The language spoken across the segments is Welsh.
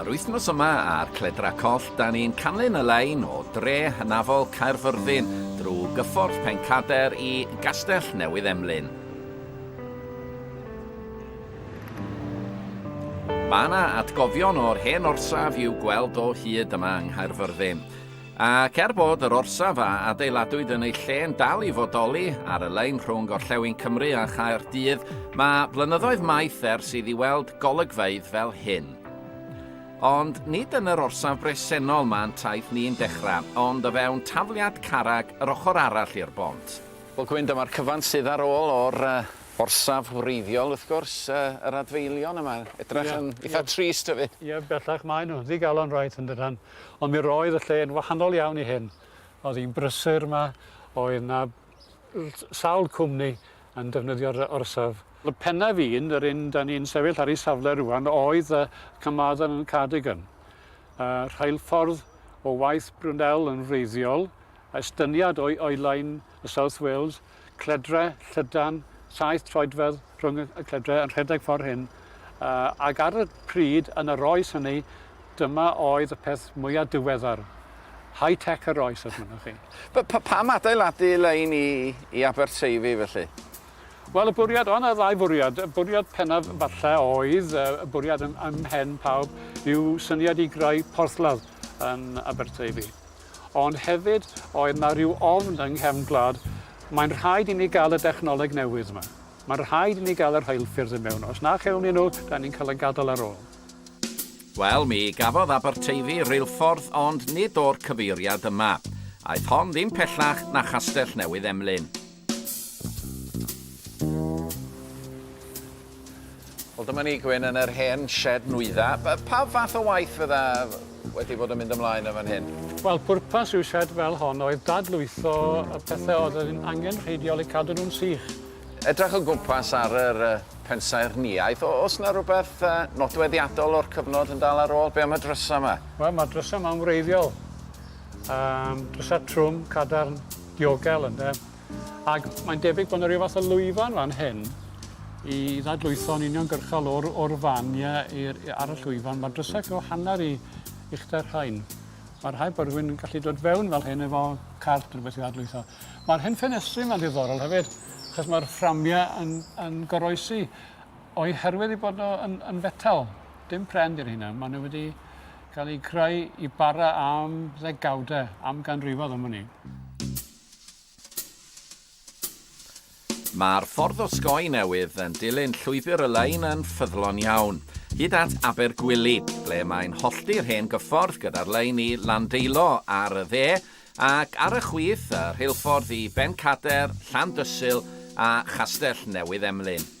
Yr wythnos yma ar Cledra Coll, da ni'n canlyn y lein o dre hynafol Caerfyrddin drwy gyffordd Pencader i Gastell Newydd Emlyn. Mae yna atgofion o'r hen orsaf i'w gweld o hyd yma yng Nghaerfyrddin. Ac er bod yr orsaf a adeiladwyd yn ei lle yn dal i fodoli ar y lein rhwng Gorllewin Cymru a Chaerdydd, mae blynyddoedd maith ers iddi weld golygfeydd fel hyn. Ond nid yn yr orsaf bresennol mae'n taith ni'n dechrau, ond o fewn tafliad carreg yr ochr arall i'r bont. Wel Gwyn, dyma'r cyfan sydd ar ôl o'r orsaf wreiddiol, wrth gwrs, yr adfeilion yma, edrych yn eitha trist hefyd. Ie, bellach maen nhw, ddigalon reit yn dydan. Ond mi roedd y lle yn wahanol iawn i hyn. Oedd hi'n brysur yma, oedd 'na sawl cwmni yn defnyddio'r orsaf. Fy pennaf i'n, yr un 'dan ni'n sefyll ar ei safle rŵan, oedd y Carmarthen and Cardigan. Y rheilffordd o waith Brunel yn wreiddiol, estyniad o'i oelau yn South Wales, cledre llydan, saith troedfedd rhwng y cledre yn rhedeg ffordd hyn, ac ar y pryd yn yr oes hynny, dyma oedd y peth mwyaf diweddar. High tech yr oes, os mynnwch chi. Pam adeiladu lein i, i Aberteifi felly? Wel, y bwriad, o' 'na ddau fwriad. Y bwriad pennaf falle oedd, y bwriad ym, ym mhen pawb, yw syniad i greu porthladd yn Aberteifi. Ond hefyd, oedd 'na ryw ofn yng nghefn gwlad, mae'n rhaid i ni gael y dechnoleg newydd 'ma. Mae'n rhaid i ni gael y rheilffyrdd i mewn. Os na chewn ni nhw, dan ni'n cael ein gadael ar ôl. Wel, mi gafodd Aberteifi reilffordd ond nid o'r cyfeiriad yma. Aeth hon ddim pellach na Chastell Newydd Emlyn. Wel dyma ni Gwyn yn yr hen shed nwydda. Pa fath o waith fydda wedi bod yn mynd ymlaen yn fan hyn? Wel pwrpas ryw shed fel hon oedd dadlwytho y pethe oedd yn angenrheidiol eu cadw nhw'n sych. Edrych o gwmpas ar yr pensaernïaeth, oes 'na rwbeth nodweddiadol o'r cyfnod yn dal ar ôl? Be am y drysa 'ma? Wel ma'r drysa 'ma'n wreiddiol. Yym drysa trwm, cadarn. Diogel ynde? Ac mae'n debyg bod 'na ryw fath o lwyfan fan hyn i ddadlwytho'n uniongyrchol o'r o'r fan ie i'r i- ar y llwyfan. Ma'r drysau cyw hanner i uchder rhain. Ma'r rhaid bod rhywun yn gallu dod fewn fel hyn efo cart rhywbeth i ddadlwytho. Ma'r hen ffenestri yma'n ddiddorol hefyd achos ma'r fframia yn yn goroesi o'i herwydd 'u bod nhw yn yn fetel. Dim pren 'di rheina. Ma' nw wedi cael ei greu i bara am ddegawdau, am ganrifoedd am wn i. Mae'r ffordd osgoi newydd yn dilyn llwybr y lein yn ffyddlon iawn, hyd at Abergwili, ble mae'n hollti'r hen gyffordd gyda'r lein i Landeilo ar y dde, ac ar y chwith, y rheilffordd i Bencader, Llandysul a Chastell Newydd Emlyn.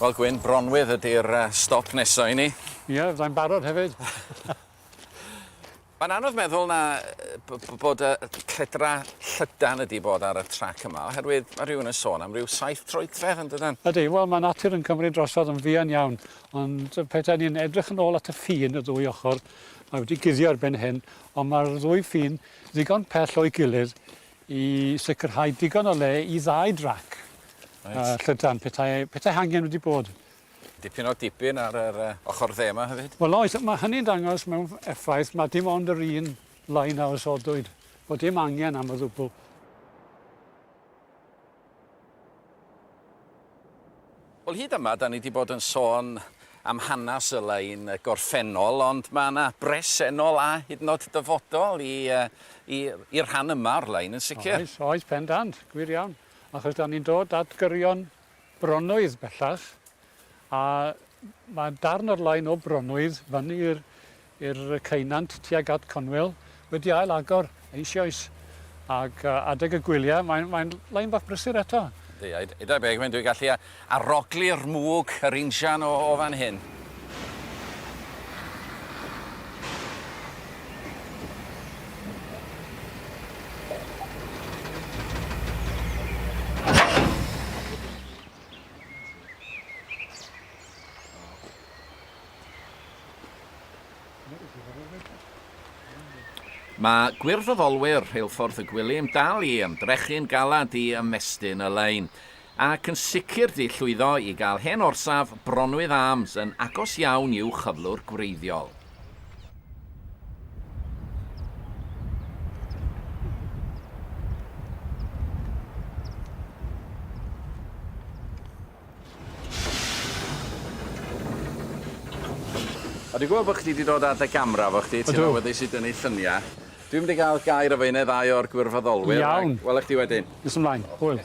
Wel Gwyn, Bronwydd ydy'r stop nesa i ni. Ie, fyddai'n barod hefyd. Mae'n anodd meddwl na bod y cledra llydan ydi bod ar y trac yma, oherwydd mae rhywun yn sôn am ryw saith troedfedd yn dydan? Ydy, wel mae natur yn cymryd drosodd yn fuan iawn, ond pethau ni'n edrych yn ôl at y ffin y ddwy ochr, mae wedi guddio ar ben hyn, ond mae'r ddwy ffin ddigon pell o'i gilydd i sicrhau digon o le i ddau drac a llydan, petai, petai hangen wedi bod. Dipyn o dipyn ar yr uh, ochr dde yma hefyd. Wel oes, mae hynny'n dangos mewn effaith, mae dim ond yr un lain a osodwyd, bod dim angen am y ddwbl. Wel hyd yma 'da ni 'di bod yn sôn am hanas y lein gorffennol ond ma' 'na bresennol a hyd yn o'd dyfodol i yy i i'r rhan yma o'r lein yn sicir. Oes oes pendant, gwir iawn, achos 'da ni'n dod at gyrion bronwydd bellach A mae darn o'r lein o Bronwydd fyny i'r i'r ceunant tuag at Conwyl wedi ail agor eisioes ac yy adeg y gwylia mae'n mae'n lein bach brysur eto. Yndi a ed- edai be' mae'n dwi gallu a- aroglu'r mwg yr injan o o fan hyn. Mae gwirfoddolwyr Rheilffordd y Gwilym dal i ymdrechu'n galed i ymestyn y lein, ac yn sicr di llwyddo i gael hen orsaf Bronwydd Arms yn agos iawn i'w chyflwr gwreiddiol. A dwi'n gwybod bod chdi wedi dod ar dy gamera efo chdi, ti'n awyddus i dynnu lluniau. Dwi'n mynd i gael gair efo un neu ddau o'r gwirfoddolwyr. Iawn. Welech chdi wedyn. Nes ymlaen. Hwyl.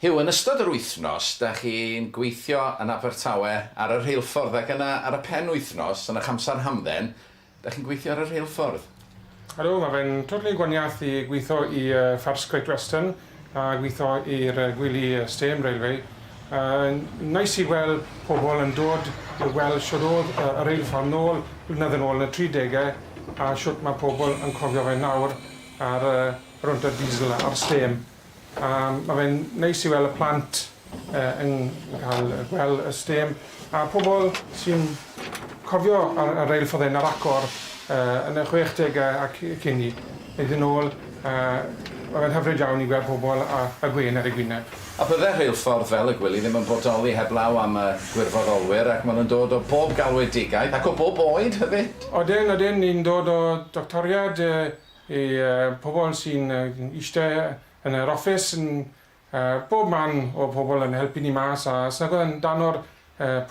Huw, yn ystod yr wythnos, dach chi'n gweithio yn Abertawe ar y rheilffordd ac yna ar y pen wythnos, yn eich amser hamdden, dach chi'n gweithio ar y rheilffordd? Ydw, mae fe'n totally gwaniath i gweithio i First Great Western a gweithio i'r gwely stêm railway. Neis i weld pobl yn dod i weld shwt oedd y reilffordd nôl blynedd yn ôl yn y tri degau a shwt mae pobl yn cofio fe nawr a'r rownd o diesel a'r stêm. A mae fe'n neis i weld y plant yn cael gweld y stêm a pobl sy'n cofio y reilfforddyn ar agor yn y chwechdegau ac cyn 'ny, mynd yn ôl. Mae fe'n hyfryd iawn i weld pobl a y gwên ar eu gwyneb. A bydde rheilffordd fel y gwely ddim yn bodoli heblaw am y gwirfoddolwyr ac maen nhw'n dod o bob galwedigaeth ac o bob oed hefyd! Odyn, odyn, ni'n dod o doctoriad Y pobl sy'n eistedd yn yr office yn bob man o pobl yn helpu ni mas a os nag oedd e'n dan o'r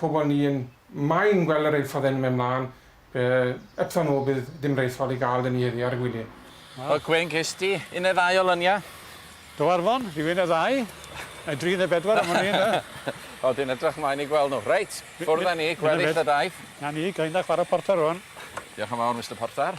pobl ni yn moyn gweld y reilffordd yn mynd mlan be eptha nhw bydd dim reilffordd i gael da ni heddi ar y gwylie. Wel Gwen ges di un neu ddau o lynia? Do Arfon, rhywun neu ddau, neu dri neu bedwar am wn i ynde? O dwi'n edrych mlaen i gweld nhw. Reit, ffwrdd a ni, gweddill y daith. Na ni, ga'i mynd a chwara portar rwan. Diolch yn fawr Mister Portar.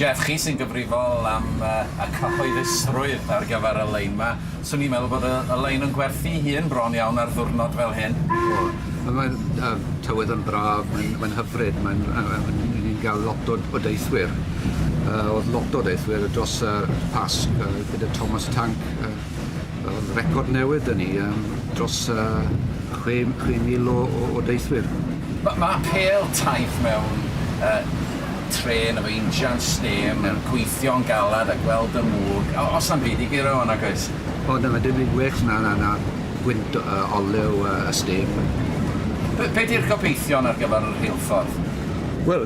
Jeff, chi sy'n gyfrifol am y cyhoeddusrwydd ar gyfer y lein 'ma. Swn i'n meddwl bod y y lein yn gwerthu'i hun bron iawn ar ddwrnod fel hyn. O, wel mae'r yy tywydd yn braf, mae'n mae'n hyfryd, mae'n yy yy mae'n 'yn ni'n ga'l lot o o deithwyr. Yy o'dd lot o deithwyr dros y Pasg yy gyda Thomas Tank yy O'dd record newydd 'dy ni yym dros yy chwe m- chwe mil o o o deithwyr. Ma' ma' apêl taith mewn yy trên efo injan stêm yn gweithio'n galad a gweld y mwg, o- o's 'na'm byd i guro 'wn nag oes? O na ma' dim byd gwell na na na gwynt o- yy olew yy y stêm. Be- be' 'di'r gobeithion ar gyfar y rheilffordd? Wel,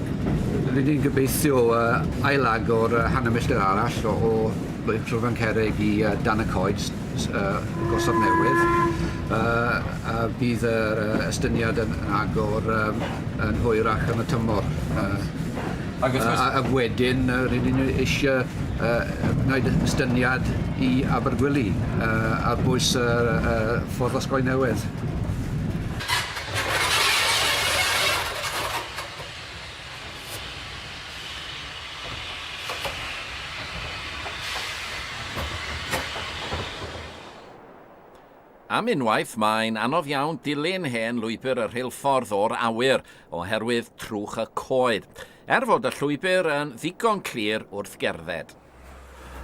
ry'n ni'n gobeithio yy ail-agor yy hanner milltir arall o o Mae Tryfan Cerrig i yy dan y coed s- s- yy y Gorsaf Newydd yy a bydd yr yy estyniad yn yn agor yym yn hwyrach yn y tymor yy Ag wrth gwrs... a a wedyn yy rydyn ni eisie yy yy wneud y- estyniad i Abergwili yy ar bwys yy yy Ffordd Osgoi Newydd. Am unwaith, mae'n anodd iawn dilyn hen lwybr y rheilffordd o'r awyr oherwydd trwch y coed, er fod y llwybr yn ddigon clir wrth gerdded.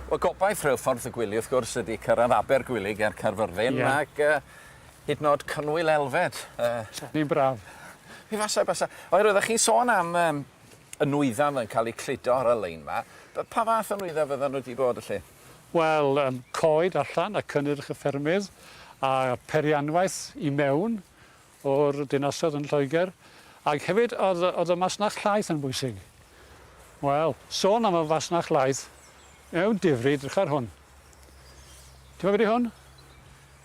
Wel, gobaith Rheilffordd y Gwili, wrth gwrs, ydy cyrraedd Abergwili ger Caerfyrddin, ac Hyd yn o'd Cynwyl Elfed. Yy. Ni'n braf. Mi fasa, basa. Oherwydd oddach chi'n sôn am yym y nwyddau yn cael eu cludo ar y lein 'ma. Be- pa fath o nwyddau fyddan nhw 'di bod felly? Wel, yym coed allan a cynnyrch y ffermydd a pherianwaith i mewn o'r dinasoedd yn Lloegr ac hefyd o'dd o'dd y masnach llaeth yn bwysig. Wel, sôn am y fasnach laeth, mewn difri, edrych ar hwn. T'mo' be' 'di hwn?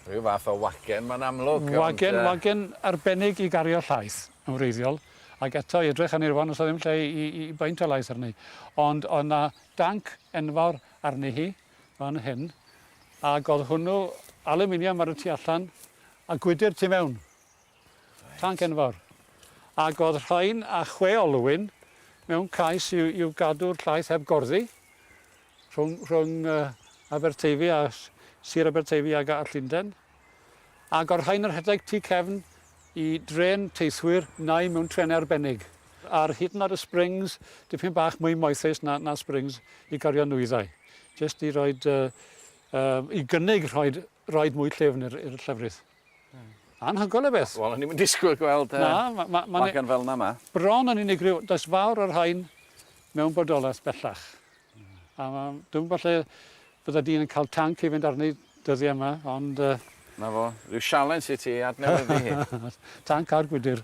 Rhyw fath o wagen ma'n amlwg ond yy... Wagen wagen arbennig i gario llaeth yn wreiddiol ac eto i edrych arni rŵan o's 'na ddim lle i i i baent y laeth arni ond o' 'na danc enfawr arni hi fan hyn ag o'dd hwnnw alwminiam ar y tu allan a gwydyr tu mewn. Reit. Tanc enfawr. Ag o'dd rhain a chwe olwyn mewn cais i'w i'w gadw'r llaeth heb gorddi Rhwng rhwng Aberteifi a Sir Aberteifi ag a Llundain. A gorchai'n y rhedeg tu cefn i drên teithwyr neu mewn trenau arbennig. Ar hyd yn oed y Springs, dipyn bach mwy moethus na na Springs i gario nwyddau. Jyst i roid yy yy i gynnig rhoid roid mwy llyfn i'r i'r llefrith. Hmm. Anhygoel o beth. Wel o'n i'm yn disgwyl gweld yy... Na, ma' ma' ma'n... ...magan fel 'na 'ma. Bron yn unigryw. Does fawr o'r rhain mewn bodolaeth bellach. A ma'... Dwi'm yn gwbo lle bydda dyn yn ca'l tanc i fynd arni dyddie yma ond yy... 'Na fo. Ryw sialens i ti ei adnewyddu hi. Tanc a'r gwydyr.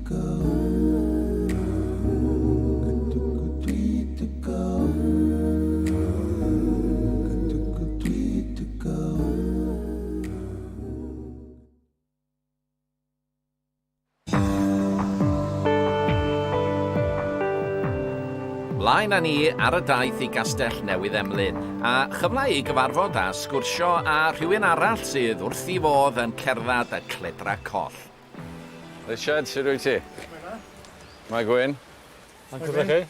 Mlaen â ni ar y daith i Gastell Newydd Emlyn, a chyfle i gyfarfod a sgwrsio â rhywun arall sydd wrth i fodd yn cerdded y cledra coll. Richard, sut rwyt ti? Shwmae dda. Mae Gwyn. Mae'n cwrdd â chi.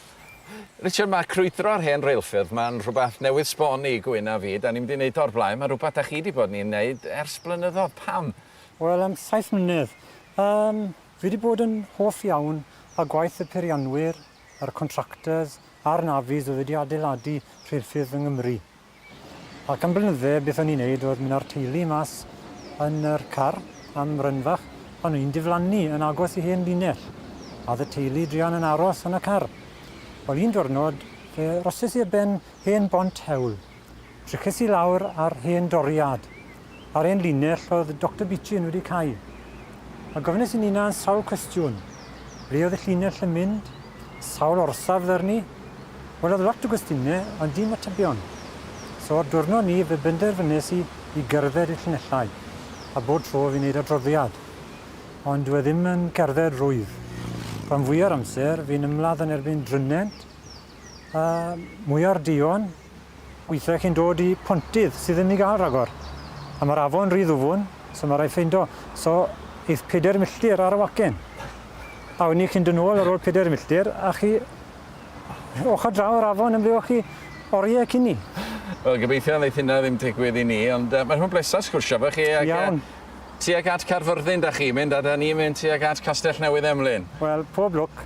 Richard, mae crwydro ar hen reilffyrdd, mae'n rhywbeth newydd sbon i Gwyn a fi. Da ni'm di neud o o'r blaen, mae'n rhywbeth da chi di bod ni'n neud ers blynyddodd. Pam? Wel, am saith mlynedd. Yym, fi di bod yn hoff iawn â gwaith y peirianwyr, yr contractors a'r navies oedd wedi adeiladu rheilffyrdd yng Nghymru. Ac am blynydde beth o'n i'n neud oedd mynd â'r teulu mas yn yr car am run fach a o'n i'n diflannu yn agos i hen linell a oedd y teulu druan yn aros yn y car. Wel un diwrnod fe rosses i ar ben hen bont hewl. Triches i lawr ar hen doriad Ar ein linell oedd Doctor Beechin wedi cau, a gofynes i'n hunan sawl cwestiwn. Ble oedd y llinell yn mynd? Sawl orsaf ddarnu? Wel, oedd lot o gwestiyne, ond dim atebion. So, ar diwrnod ni, fe benderfynes i i gerdded i'r llinellau, a bob tro fi'n neud adroddiad. Ond dyw e ddim yn cerdded rwydd. Rhan fwya'r amser, fi'n ymladd yn erbyn drynnent, a mwya'r duon. Weithiau chi'n dod i pontydd sydd ddim i gael rhagor, a mae'r afon rhy ddwfwn, so mae rhaid ffeindio, so, eith pedair milltir ar y wacen. A wedyn chi'n dod nôl ar ôl pedair milltir, a chi ochr draw yr afon yn ble o'ch chi oriau cyn ni. Wel, gobeithio wneith hynna ddim digwydd i ni, ond uh, mae'n hwn blesa sgwrsio fe chi. Ac, Iawn. Uh, tuag at Carfyrddin da chi mynd, a da ni'n mynd tuag at Castell Newydd Emlyn. Wel, pob lwc.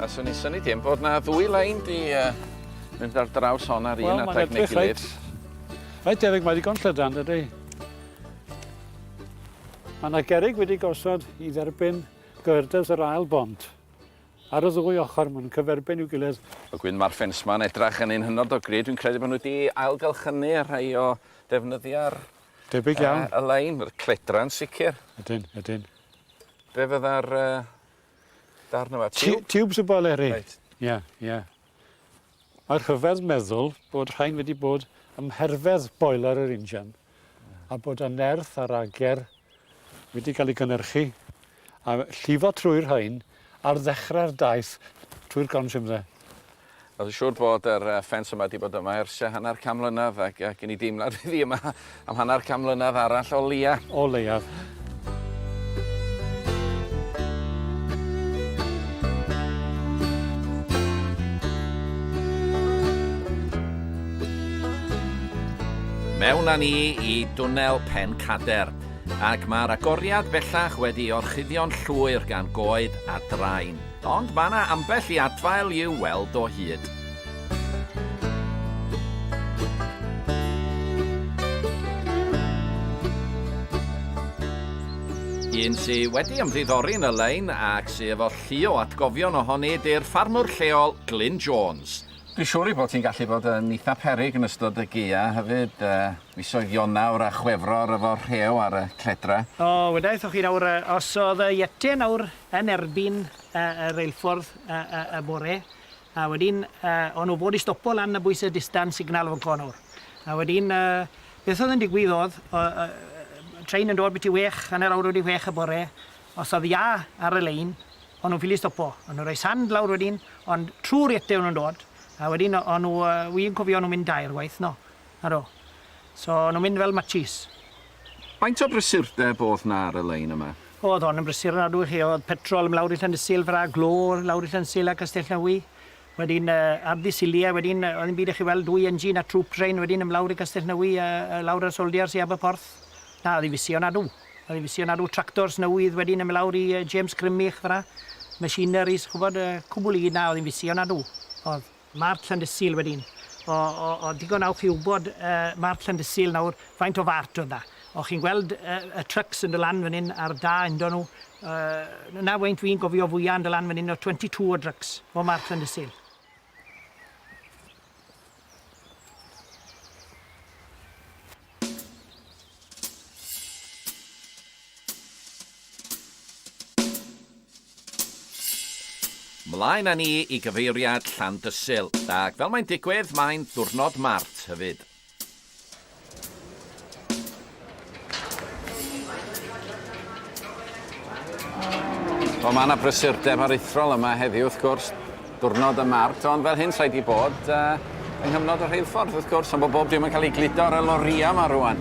A swn i'n syni dim bod na ddwy lein di uh, mynd ar draws hon ar un well, adeg neu gilydd. Rhaid debyg mae digon llydan, dydy. Mae yna gerig wedi gosod i dderbyn gyrdys yr ail bont. Ar y ddwy ochr mae'n cyferbyn i'w gilydd. O gwyn ma'r ffens ma'n edrach yn un hynod o gry dwi'n credu bo' nw di ail gylchynu a rhai o defnyddia'r Debyg iawn. Yy y lein yr cledra'n sicir. Ydyn ydyn. Be' fydda'r yy darn yma tiwb? Tiwbs o boleri. Reit. Ia ia. Mae rhyfedd meddwl bod rhain wedi bod ym mherfedd boeler yr injan a bod y nerth a'r ager wedi cael ei gynhyrchu a llifo trwy'r rhain ar ddechrau'r daith trwy'r gron simdde. Wel, siŵr bod yr ffens yma wedi bod yma ers hanner can mlynedd ac gen i deimlad iddi yma Am hanner can mlynedd arall o leia. O leiaf. Mewn â ni i dwnnel Pen Cader, ac mae'r agoriad bellach wedi orchuddio'n llwyr gan goed a drain. Ond mae yna ambell i adfail i'w weld o hyd. Un sy wedi ymddiddori yn y lein ac sy efo llu o atgofion ohoni ydy'r ffarmwr lleol Glyn Jones. Dwi'n siŵr ei bod hi'n gallu bod yn eitha peryg yn ystod y gaea hefyd, uh, misoedd Ionawr a Chwefror efo rhew ar y cledra. O, wedaethoch chi nawr, uh, os oedd y Yeti nawr yn erbyn uh, y reilffordd uh, uh, y bore, A wedyn yy o'n nhw fod i stopo lan y bwyse distance signal fan 'co nawr. A wedyn yy beth o'dd yn digwydd o'dd o- yy yy trên yn dod biti wech hanner awr wedi whech y bore os o'dd iâ ar y lein o'n nhw'n ffili stopo. O'n nhw'n roi sand lawr wedyn ond trw'r iete o'n nhw'n dod a wedyn o- o'n nhw yy wi'n cofio nhw'n mynd dair gwaith 'no. Naddo. So o'n nhw'n mynd fel matshis. Faint o brysurdeb o'dd 'na ar y lein yma? O'dd hon yn brysur ofnadw i chi, o'dd petrol yn lawr i Llandysul fel 'a, glo lawr i Llandysul a Castellnewy, wedyn Arddu Silie, wedyn o'dd dim byd i chi weld, dwy engine a troop train wedyn yn lawr i Castellnewy a lawr a'r soldiers i Aberporth. Na, o'dd 'i'n fysi ofnadw. O'dd 'i'n fysi ofnadw, tractors newydd wedyn yn myn' lawr i James Grimmich fel 'a, machineries ch'bod, cwbwl i gyd, na, o'dd 'i'n fysi ofnadw, o'dd. Marc Llandysul wedyn. O, o, o, digon awch i wbod, yy, Marc Llandysul nawr, faint o fart oedd 'na. O, chi'n gweld, yy, y trucks yn do' lan fan 'yn ar da undo nhw, yy, 'na faint fi'n gofio fwya yn do' lan fan 'yn oedd twenty two o drucks o Marc Llandysul. Mlaen â ni i gyfeiriad Llandysul, ac fel mae'n digwydd, mae'n ddiwrnod Mart hefyd. Wel, mae 'na brysurdeb aruthrol yma heddiw, wrth gwrs. Diwrnod y Mart, ond fel hyn sa'i 'di bod yng nghyfnod y rheilffordd, wrth gwrs, ond bod bob dim yn cael ei gludo ar y lorïau 'ma rŵan.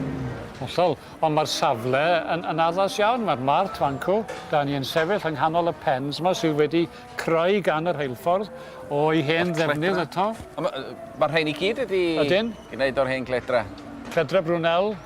Hollol, ond mae'r safle yn yn addas iawn, mae'r Mart fan 'cw, 'da ni yn sefyll yng nghanol y pens 'ma sydd wedi creu gan y rheilffordd o'i hen ddefnydd eto. Mae'r rhein i gyd wedi... Ydyn. ...gwneud o'r hen gledra. Cledra Brunel.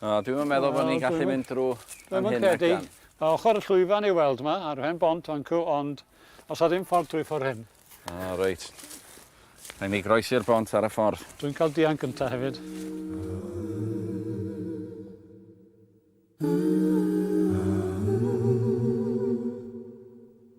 O, dwi'm yn meddwl bod ni'n gallu mynd drw fan hyn, Nectan. Mae ochr y llwyfan ei weld ma, ar hen bont fancw, ond os a ddim ffordd drwy ffordd hyn. O, reit. Rhaid ni groesi'r bont ar y ffordd. Dwi'n cael dianc gynta hefyd. Mm.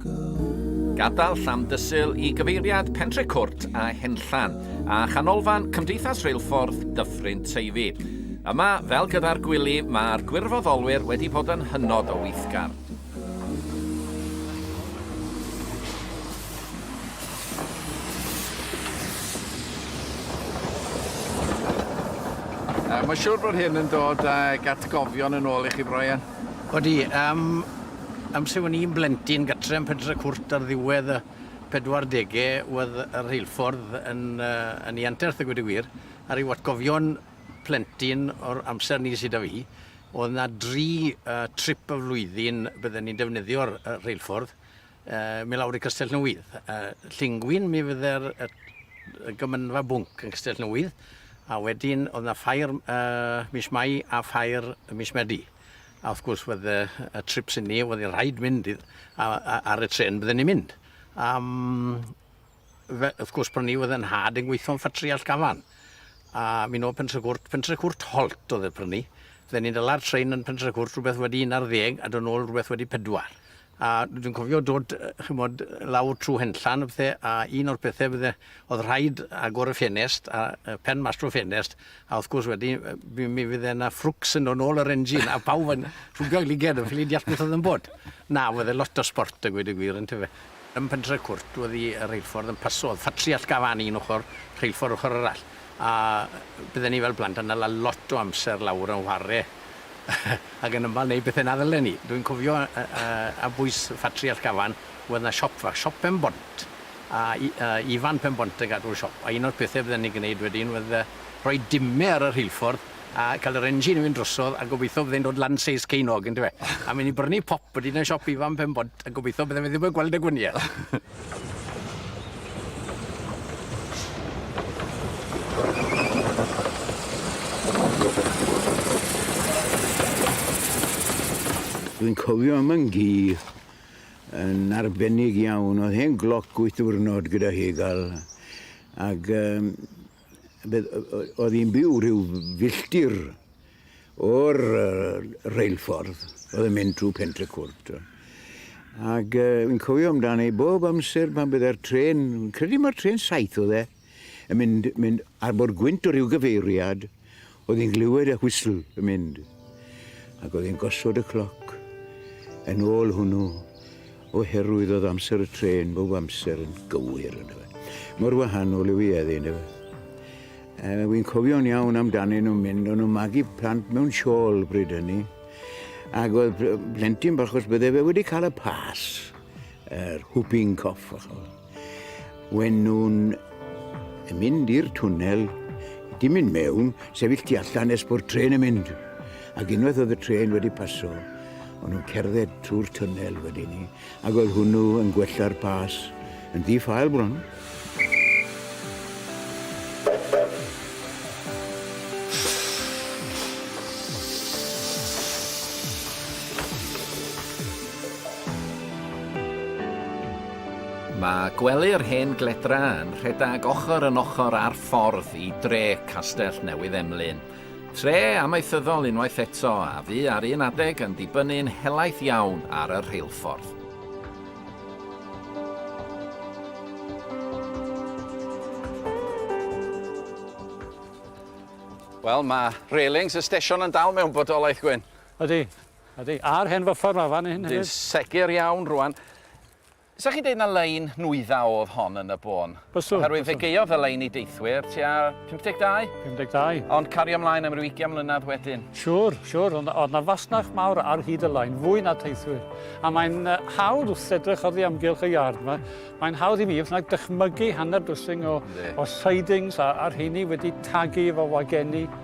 Gadael Llandysul i gyfeiriad Pentrecwrt a Henllan, a chanolfan Cymdeithas Reilffordd Dyffryn Teifi. Yma, fel gyda'r gwylli, mae'r gwirfoddolwyr wedi bod yn hynod o weithgar. Mae'n siŵr bod hyn yn dod ag atgofion yn ôl i chi, Brian. Odi, am Amser o'n i'n blentyn gatre yn Pentre Cwrt ar ddiwedd y pedwardege wedd y rheilffordd yn yy yn 'i anterth a gweud y gwir a ryw atgofion plentyn o'r amser 'ny sy 'da fi o'dd 'na dri yy trip y flwyddyn bydden ni'n defnyddio'r yy rheilffordd yy myn' lawr i Castellnewydd yy Llingwyn mi fydde'r yy y gymynfa bwnc yn Castellnewydd a wedyn o'dd 'na ffair yy mis Mai a ffair mis Medi. A wrth gwrs fydde y trips i ni, oedd i'n rhaid mynd i, a, a, ar y tren bydden ni'n mynd. Um, fe, wrth gwrs pan ni oedd yn had yn gweithio'n ffatri all gafan. A mi'n ôl pentre cwrt, pentre cwrt holt oedd e prynu. Fydden ni'n dyla'r train yn pentre cwrt rhywbeth wedi 11 a dod nôl rhywbeth wedi pedwar. A dwi'n cofio dod, chymod, lawr trwy henllan a pethau, a un o'r pethau fydde, oedd rhaid agor y ffenest, a pen mas trwy ffenest, a wrth gwrs wedi, mi fydde yna ffrwcs yn dod nôl yr engine, a pawb yn rhwbio i liged, yn ffili deall beth oedd yn bod. Na, fydde lot o sport y gweud y gwir, yn tyfe. Ym Pentre Cwrt, oedd y rheilffordd yn paso, oedd ffatri allgafan un ochr, rheilffordd ochr arall. a bydden ni fel plant yn hala lot o amser lawr yn whare ac yn ymal neud bethe na ddylen ni. Dwi'n cofio yy yy ar bwys ffatri Allgafan wedd 'na siop fach, siop Pen Bont, a i- a Ifan Pen Bont yn gadw'r siop, a un o'r pethe bydden ni'n gneud wedyn wedd yy rhoi dime ar y rheilffordd a ca'l yr engine i fynd drosodd a gobeitho bydde'n dod lan seis Cein Og yndyfe? A myn' i brynu pop wedyn yn siop Ifan Pen Bont a gobeitho bydde fe ddim yn gweld y gwynie. Dwi'n cofio am yn gi yn arbennig iawn. Oedd hen gloc wyth diwrnod gyda hi gael ac um, Bydd, oedd hi'n byw rhyw filltir o'r reilffordd, oedd yn mynd trwy Pentrecwrt. Ac uh, fi'n cofio amdano i bob amser pan bydd e'r tren, credu mae'r tren saith oedd e, yn mynd, mynd ar bod gwynt o ryw gyfeiriad, Oedd hi'n glywed y whistle yn mynd, ac oedd hi'n gosod y cloc yn ôl hwnnw, oherwydd oedd amser y trên bob amser yn gywir, ynde fe. Mor wahanol yw hi heddi, ynde fe. E, Wy'n cofio'n iawn amdanyn nhw'n mynd, o'n nhw'n magu plant mewn siôl bryd hynny. Ac oedd plentyn bach, os bydde fe wedi cael y pas, yr whooping cough, When nhw'n mynd i'r twnnel, dim mynd mewn, sefyll tu allan nes bod tren yn mynd. Ac unwaith oedd y tren wedi paso, o'n nhw'n cerdded trwy'r twnnel wedyn ni, ac oedd hwnnw yn gwella'r pas yn ddi-ffael bron. Mae gwely'r hen gledra yn rhedeg ochr yn ochr â'r ffordd i dre Castell Newydd Emlyn. Tre amaethyddol unwaith eto a fu ar un adeg yn dibynnu'n helaeth iawn ar y rheilffordd. Wel, mae railings y stesion yn dal mewn bodolaeth, Gwyn. Ydi. Ydi, a'r hen fyffer 'ma fan 'yn hefyd. Yndi, segur iawn rŵan. 'Sa chi'n deud na lein nwyddau o'dd hon yn y bôn? Byswn. Oherwydd fe gaeodd y lein i deithwyr tua 52? 52. Ond cario mlaen am ryw ugian mlynedd wedyn? Siŵr, siŵr, ond o'dd 'na fasnach mawr ar hyd y lein, fwy na teithwyr. A mae'n hawdd wrth edrych oddi amgylch y iard 'ma, mae'n hawdd i mi beth bynnag dychmygu hanner dwsin o... Yndi. ...o sidings a a rheini wedi tagu efo wageni.